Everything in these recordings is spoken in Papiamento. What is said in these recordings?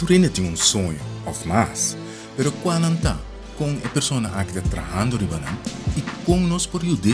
Tur hende tin un soño òf mas, pero kua nan ta? Kon e persona aki ta trahando riba nan i kon nos por yud'é?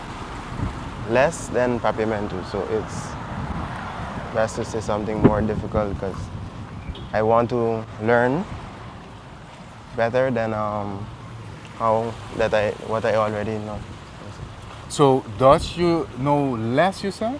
less than papiamentu so it's best to say something more difficult cuz I want to learn better than um, how that I what I already know. So Dutch you know less you say?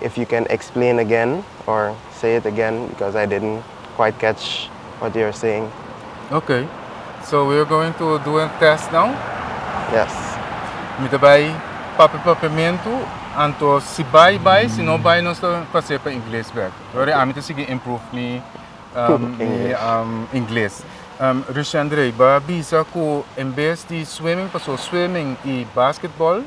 If you can explain again or say it again because I didn't quite catch what you're saying. Okay, so we're going to do a test now. Yes. Mi ta bai papi papiamento, anto si bai bai, si no bai nos ta pasé pa inglés back. Lori ami ta sigui improve mi um, mi English. um, inglés. Um, Richandre, ba bisa ku en bes di swimming, paso swimming i basketball,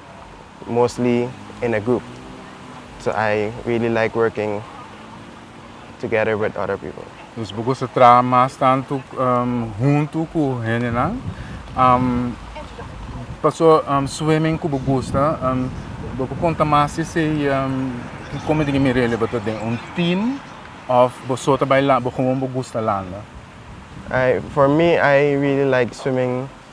mostly in a group so I really like working together with other people. Dus bo gusta traha mas tantu huntu ku hendenan. Paso swimming ku bo gusta bo por konta mas di esei kiko mi di mi rele bo ta den un team of bo so ta bai landa bo gusta landa? For me I really like swimming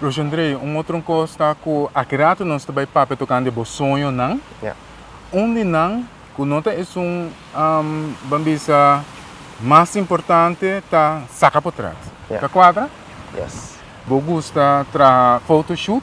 Rosendrey, un otro cos ta cu aki rato nos ta bay papia tocando de bo soñonan. Ja. Un di nan cu no ta esun, um, ban bisa, mas importante ta saca potrat. Ja. Ta cuadra? Yes. Bo gusta traha photoshoot?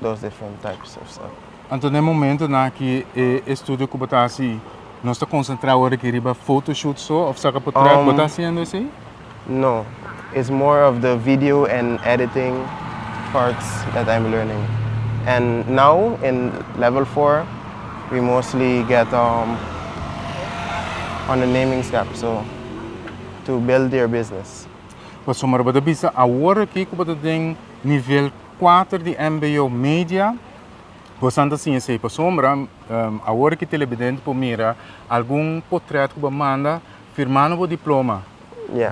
dos different types of stuff. Anto den momento nan aki e estudio ku bo ta hasi nos ta konsentrá ora ki riba photoshoot so of saka potret um, bo ta hasiendo esei? No, it's more of the video and editing parts that I'm learning. And now in level 4 we mostly get um on the naming step so to build your business. Bo sommer bo ta bisa awor aki ku bo ta den nivel Kuater di NBO Media Bosan ta siña esei pa sombra, awor ki telebidente por mira algun potret ku bo manda firmando bo diploma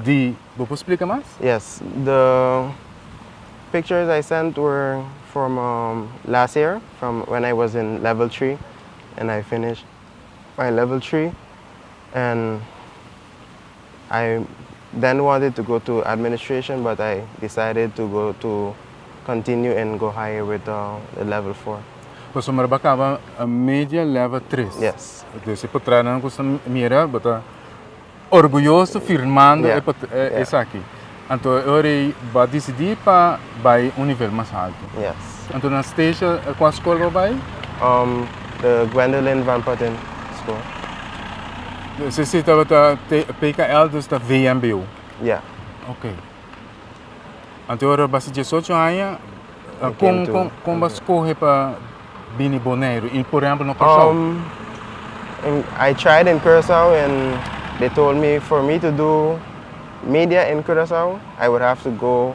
di Bo por splika mas? Yes, the pictures I sent were from last year from when I was in level three and I finished my level three and I Dan wanted to go to administration but I decided to go to continue and go higher with the level four. Pasobra bo a caba media level tres. Yes. Entonces por traha nan gusta mira bo ta orguyoso firmando esaki. Anto e ora ei bo a decidi pa bay un nivel mas alto. Yes. Anto na Stacia, e kua skol bo bai? Um, the Gwendolyn Van Putten School. Se si tabata te- PKL, dus ta VMBO. Ja. Ok. Anto ora basi 18 aña, uh, Ik kon, ken toe. kon, kon bas kohe pa bini Boneiru, in por ejemplo na Curaçao. Um, in, I tried in Curaçao and they told me for me to do media in Curaçao, I would have to go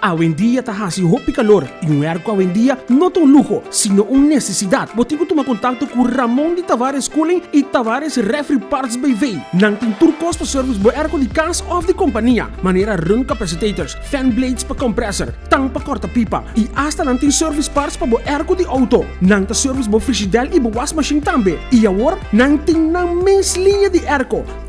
Awendia ta hasi hopi kalor i un hèrku awendia no ta un luho, sino un nesesidat. Bo tin ku tuma kontakto ku Ramon di Tavares Cooling i Tavares Refri Parts BV. Nan tin tur kos pa sèrvis bo hèrku di kas òf di kompania, manera run kapasitators, fan blades pa komprèsor, tang pa kòrta pipa, i asta nan tin sèrvis parts pa bo hèrku di outo. Nan ta sèrvis bo frishidèl i bo washmashin tambe. I awor nan tin nan mes liña di hèrku.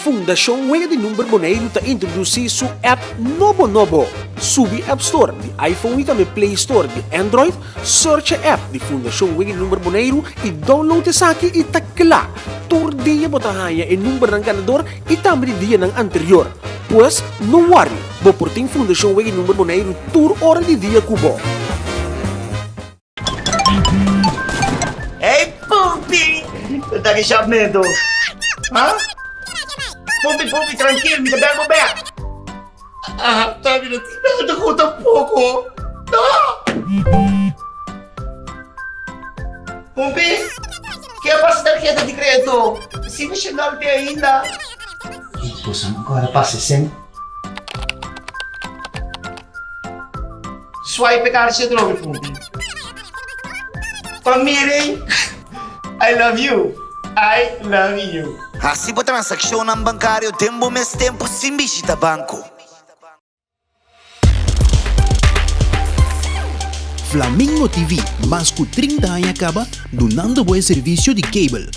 Fundashon Wega di Number Boneiru ta introdusí su app nobo nobo. Subi App Store di iPhone i tambe Play Store di Android, searcha app di Fundashon Wega di Number Boneiru i download esaki i ta kla! Tur dia bo ta haña e numbernan ganador i tambe di dianan anterior. Pues, no wòri, bo por tin Fundashon Wega di Number Boneiru tur ora di dia ku bo. Ey Pupi! Cu ta ki shop neto? Ha? Pupi, Pupi, trankil, mi ta bel bo bek. Aha, ta bira tin bel ta ku tampoco. Pupi, ke a pasa tarheta di kredito? Sin Nacional te ainda. Ey, boso no kore pasa esey. Swipe e karchi e drobi punti. Pa Miri, I love you, I love you. Hasi bo transakshonnan bankario den bo mes tempu sin bishita banko. Flamingo TV, mas ku trinta aña kaba dunando bo e servisio di cable.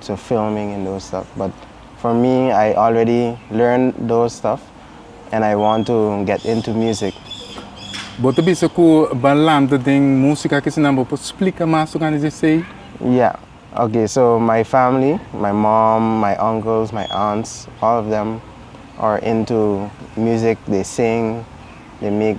to filming and those stuff but for me I already learn those stuff and I want to get into music. Bo ta bisa ku ba lanta den musika akesinan bo por splika mas tok antes di esei? Ya, ok so my family, my mom, my uncles, my aunts all of them are into music they sing they make.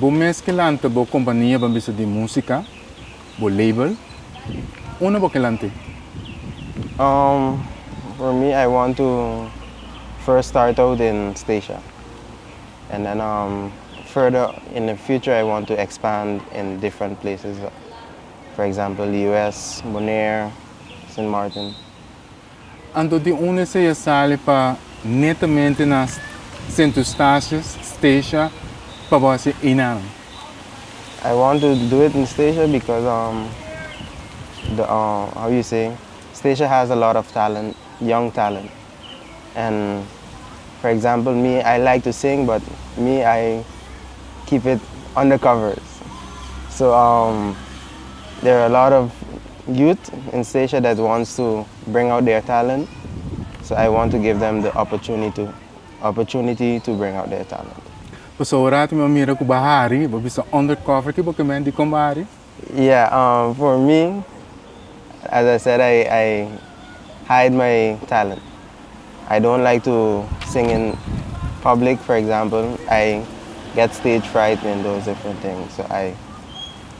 Bo mes ke lanta bo kompaniaban bisa di musika, bo label. Unda bo ke lant'e? Um, for me I want to first start out in Stacia and then um further in the future I want to expand in different places for example US, Bonaire, Sint Maarten. Anto tin un desea sali pa netamente na Sint Eustatius, Stacia, pa bo hasi einan. I want to do it in Stacia because um the um how you say Stacia has a lot of talent, young talent and for example me I like to sing but me I keep it undercover so um there are a lot of Youth in Sesha that wants to bring out their talent so I want to give them the opportunity opportunity to bring out their talent. Paso ora ta mi a mira ku ba hari, bo bisa under cover ki bo kemen di kon bo hari? Yeah um for me as I said I I hide my talent I don't like to sing in public for example I get stage fright and those different things so I.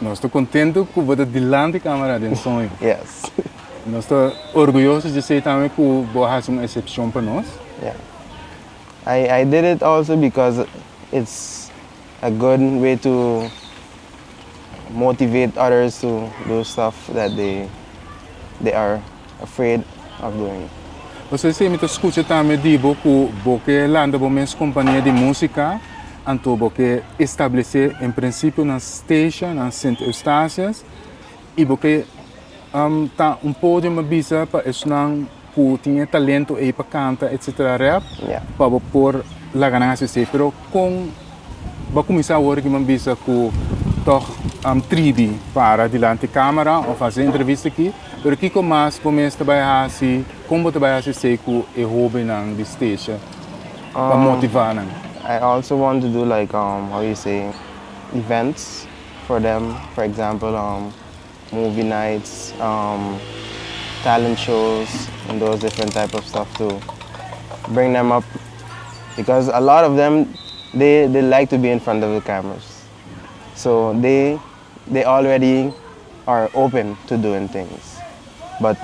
Nos ta contento cu bo ta dilanti camera den soño. Yes. Nos ta orgulloso di esey tambe cu bo a haci un excepcion pa nos. Yeah. I, I did it also because it's a good way to motivate others to do stuff that they, they are. afraid of doing it. Pasobra di esei mi ta skucha tambe di bo ku bo ke lanta bo mes kompania di músika, anto bo ke establesé en prinsipio nan Stacia, nan Sint Eustatius, i bo ke um, ta un podium a bisa pa esnan ku tin e talento ei pa kanta etc. Rap, Ya. pa bo por laga nan hasi esei. Pero kon bo a kuminsá a worde ki bo a bisa ku tòg um tribi para dilanti kámara òf hasi e entrevista aki? Pero kiko mas bo mester bai hasi? Kon bo ta bai hasi esei ku e hobennan di Stacia pa motivá nan? I also want to do like um how you say events for them for example um movie nights um talent shows and those different type of stuff to bring them up because a lot of them they they like to be in front of the cameras so they They already are open to doing things but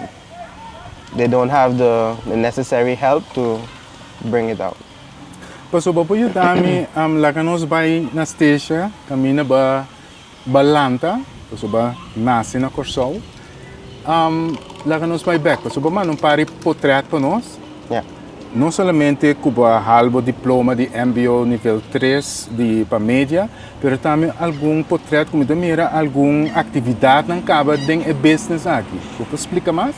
they don't have the the necessary help to bring it out. Paso bo por yuda mi am laga nos bai na Stecia caminda ba ba lanta paso ba naci na Corsou. Laga nos bai bek, pasobra bo manda un par di potrèt pa nos. No solamente ku bo a hal bo diploma di mbo nivel tres di pa media, pero tambe algun potrèt ku mi ta mira algun aktividatnan kaba den e business aki. Bo por splika mas?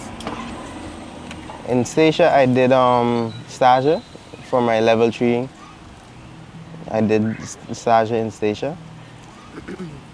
In Station I did stage for my level three, I did stage in Station.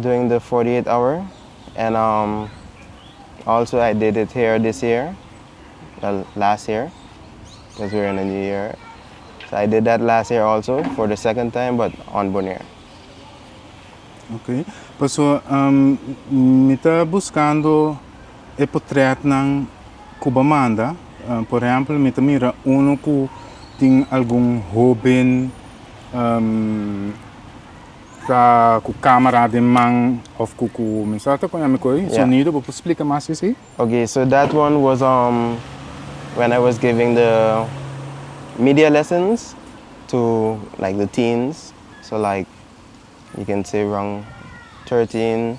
during the forty eight hour and um also I did it here this year well last year cuz we're in a new year so I did that last year also for the second time but on Bonaire. Okay paso um mi ta buscando e potretnan cu bo manda um por ehemplo mi ta mira uno cu tin algun hoben um Ta cu camera den man of cu cu mensora ta con ami coy sonido bo por splica mas si si. Ok so that one was um when I was giving the media lessons to like the teens so like you can say rong thirteen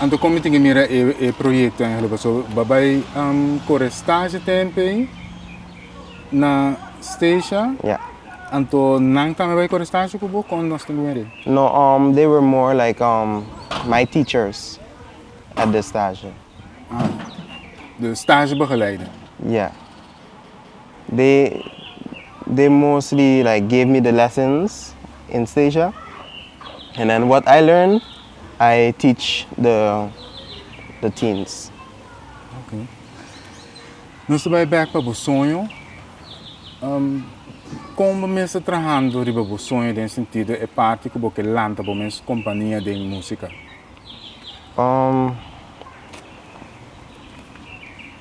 Anto kon mi tin ke mira e proyekto en Aruba? So bo bai kore stage tempe ei na Stacia? Ja. Anto nan tambe bai kore stage ku bo kon nos tin bin rei? No, they were more like my teachers at the stage. Ah, de stage begeleide? Ja. They mostly like gave me the lessons in Stasia and then what I learn I teach the teens. Ok. Nos ta bai bek pa bo soño. Kon bo mester ta trahando riba bo soño den sentido e parti ku bo ke lanta bo mes kompania den musika?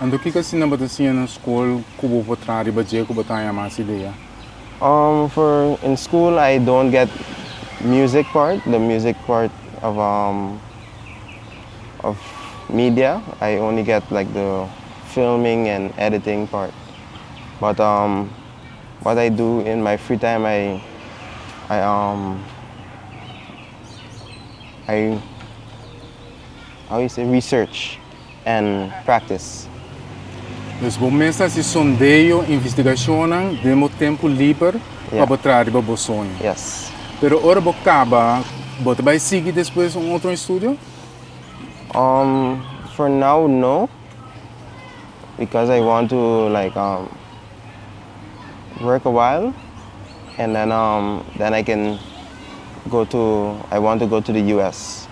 Anto kiko asina bo ta siña na skol ku bo por traha riba dje ku bo ta haña mas idea? Um for in school I don't get music part the music part of um of media I only get like the filming and editing part but um what I do in my free time I I um I how you say research. and practice. Dus bo mes ta hasi sondeo, investigacionnan, den bo tempo liber pa bo traha riba bo soño. Yes. Pero ora bo caba, bo ta bay sigui despues un otro estudio? Um, for now no, because I want to like um work a while and then um then I can go to, I want to go to the US.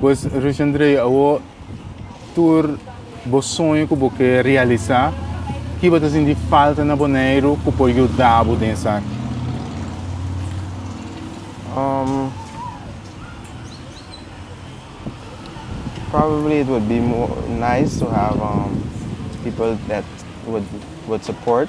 Pues Richandre, awo tur bo soño ku bo ke realisá, ki bo ta sinti falta na Boneiru ku por yuda bo den esaki? Um, probably it would be more nice to have um people that would would support.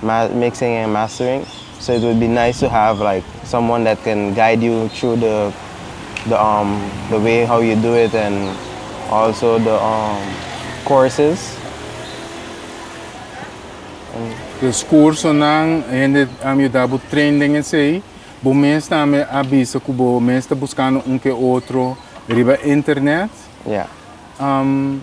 Mas mixing en mastering so it would be nice to have like someone that can guide you through the the um the way how you do it and also the um courses and. Los cursonan hende a yuda bo train den esey, bo mes tambe a bisa cu bo mes ta buscando un ke otro riba internet. Yeah. Um.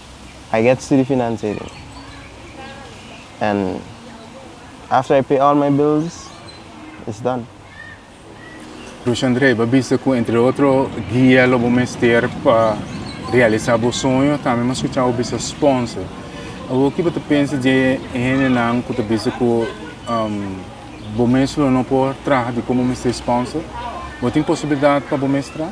I get studi financia den en after I pay all my bills it's done. Bruce Andre, bo a bisa cu entre otro guia lo bo mester pa realisa bo soño, tambe bo a scucha bo bisa sponsor. Awor ki bo ta pensa dje hendenan cu ta bisa cu um, bo mes lo no por traha di con bo mester sponsor? Bo tin posibilidad pa bo mes traha?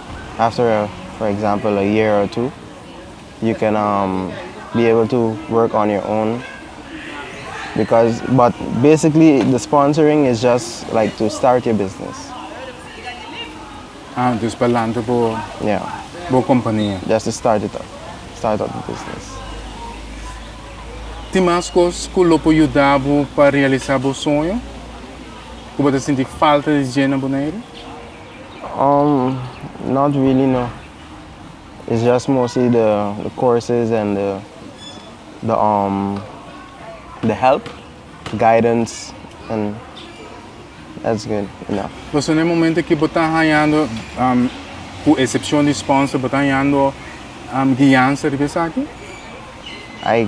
after for example a year or two you can um be able to work on your own because but basically the sponsoring is just like to start your business Ah, dus pa lanta bo yeah bo kompania. just to start it up start up the business Tin mas kos ku lo por yuda bo pa realisá bo soño ku bo ta sinti falta di dje na Boneiru? Umm not really no it's just mostly the the courses and the the umm the help guidance and that's good enough. Entonces na e momento aki bo ta hañando umm cu excepcion di sponsor bo ta hañando umm guiansa riba esaki? I.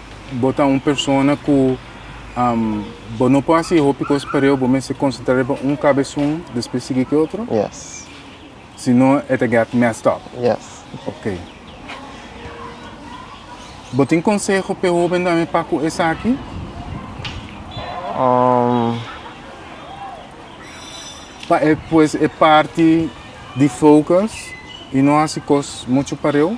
bo ta un persona ku bo no por hasi e hopi kos pareu, bo mester konsentrá riba un kabesun despues sigui ku e otro? Yes. Si no e ta get messed up. Yes. Ok. Bo tin konseho p'e hóbennan me pa ku esaki? Pa e pues e parti di focus i no hasi kos muchu pareu?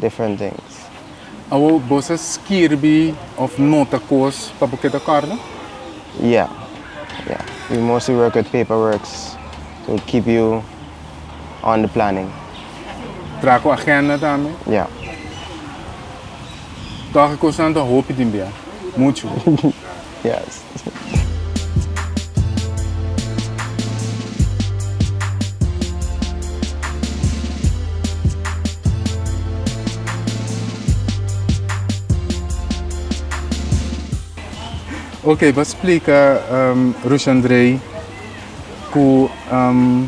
different things. Awor bos a skirbi of nota cos pa bo keda corda? Yeah, yeah. We mostly work with paper works to keep you on the planning. Traha cu agenda tambe? Yeah. Toha e cosnan ta hopi tin bia. Mucho. Yes. Ok, ba splica um, Rushandrei cu um,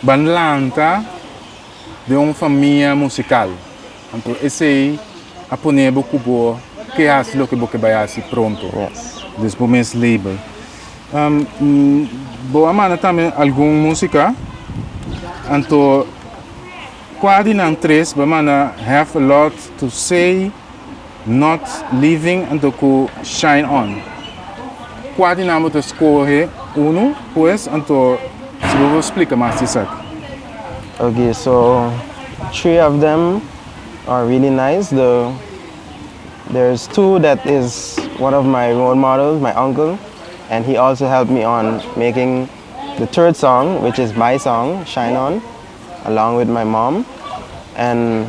ban lanta den un famia musikal, anto esei a pone bo ku bo ke hasi loke bo ke bai hasi pronto des bo mes label. Bo a manda tambe algun músika, anto kua di nan tres bo a manda Have a Lot to Say? Not Leaving anto ku Shine On. Kua di nan bo ta skohe unu, pues anto si bo por splika mas di esaki? Ok, so three of them are really nice, the there is two that is one of my role models, my uncle, and he also help me on making the third song which is my song, Shine On, along with my mom and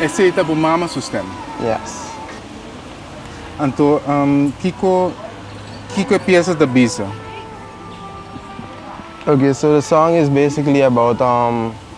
Esey ta bo mama su stem? Yes. Anto kiko kiko e pieza ta bisa? Okay, so the song is basically about um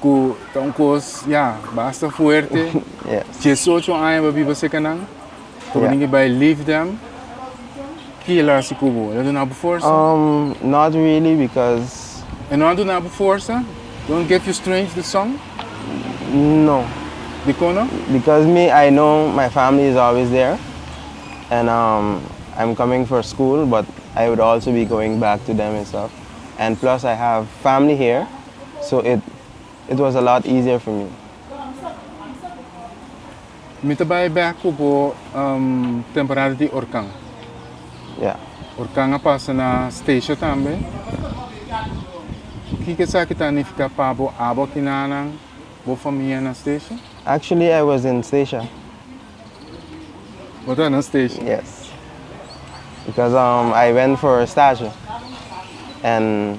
ku ta un kos ya basta fuerte. Diesocho aña bo biba seka nan, ta bo dingin bai leave them. Ki el a hasi ku bo? El a duna bo forsa? Um, not really because E no a duna bo forsa? Don't get you strange the song? no, Dikon no? because me I know my family is always there and um I'm coming for school but I would also be going back to them and stuff and plus I have family here so it it was a lot easier for me. Mi ta bai bek ku bo um temporada di orkan. Yeah. Orkan a pasa na Statia tambe. Ki ke esaki ta nifiká pa bo abo aki na nan, bo famia na Statia? Actually I was in Statia. Bo ta na Statia? Yes. Because um I went for Statia and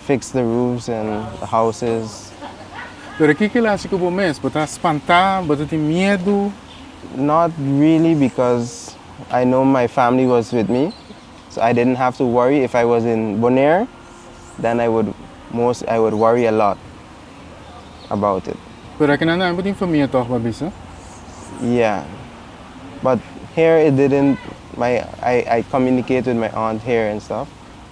Fix the roofs in the houses. Pero kiko el haci cu bo mes? Bo ta spanta? Bo ta tin miedu? Not really because I know my family was with me so I didn't have to worry if I was in Bonaire then I would most I would worry a lot about it. Pero akinan tambe bo tin famia toch bo a bisa? Yeah but here it didn't my I I communicate with my aunt here and stuff.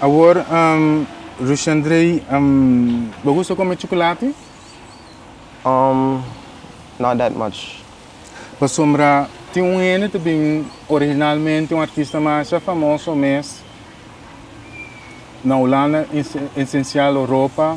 Awor Rushandrey bo gusta come chocolate? Um, not that much. Pasobra tin un hende ta bin originalmente un artista masha famoso mes na Holanda, en esencial Europa.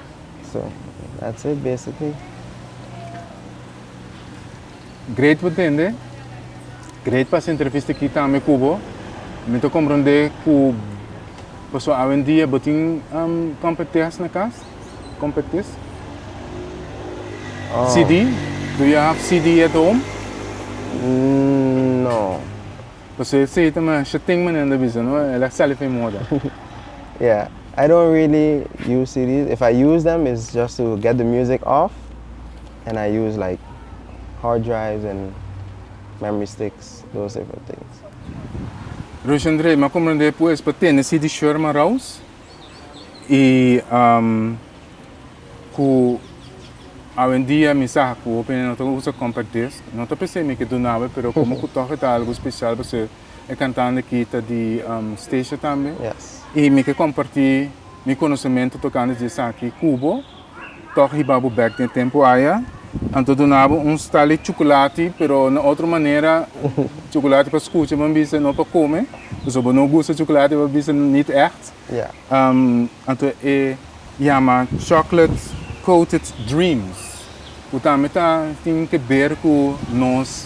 Great por tende, great pa hasi entrevista aki tambe cu bo. Mi ta comprende cu paso awendia bo tin competeas na cas, competis. CD, do you have CD at home? No. Pasobra e seita masha tin manera di bisa no el a sali fin moda. Yeah. I don't really use CDs. If I use them it's just to get the music off and I use like hard drives and memory sticks those type of things. Roshandre, mi a comprende pues pa tene CD shor maraus? y um, cu awendia mi sa cu hopi nena no ta usa compact disc, no ta p'esei mi ke dunab'e, pero como cu tog e ta algo special pasobra e cantante aki ta di um, Stacia tambe, Yes. y mi ke comparti mi conocemento tocante dje esaki cu bo, Tòg hiba bo bèk den tempu aya, anto duna bo un stali chukulati, pero na otro manera, chukulati pa skucha bo bisa, no pa kome. Pasobra bo no gusta chukulati bo bisa nit ègt. Anto e yama Chocolate Coated Dreams, ku tambe ta tin ke ber ku nos.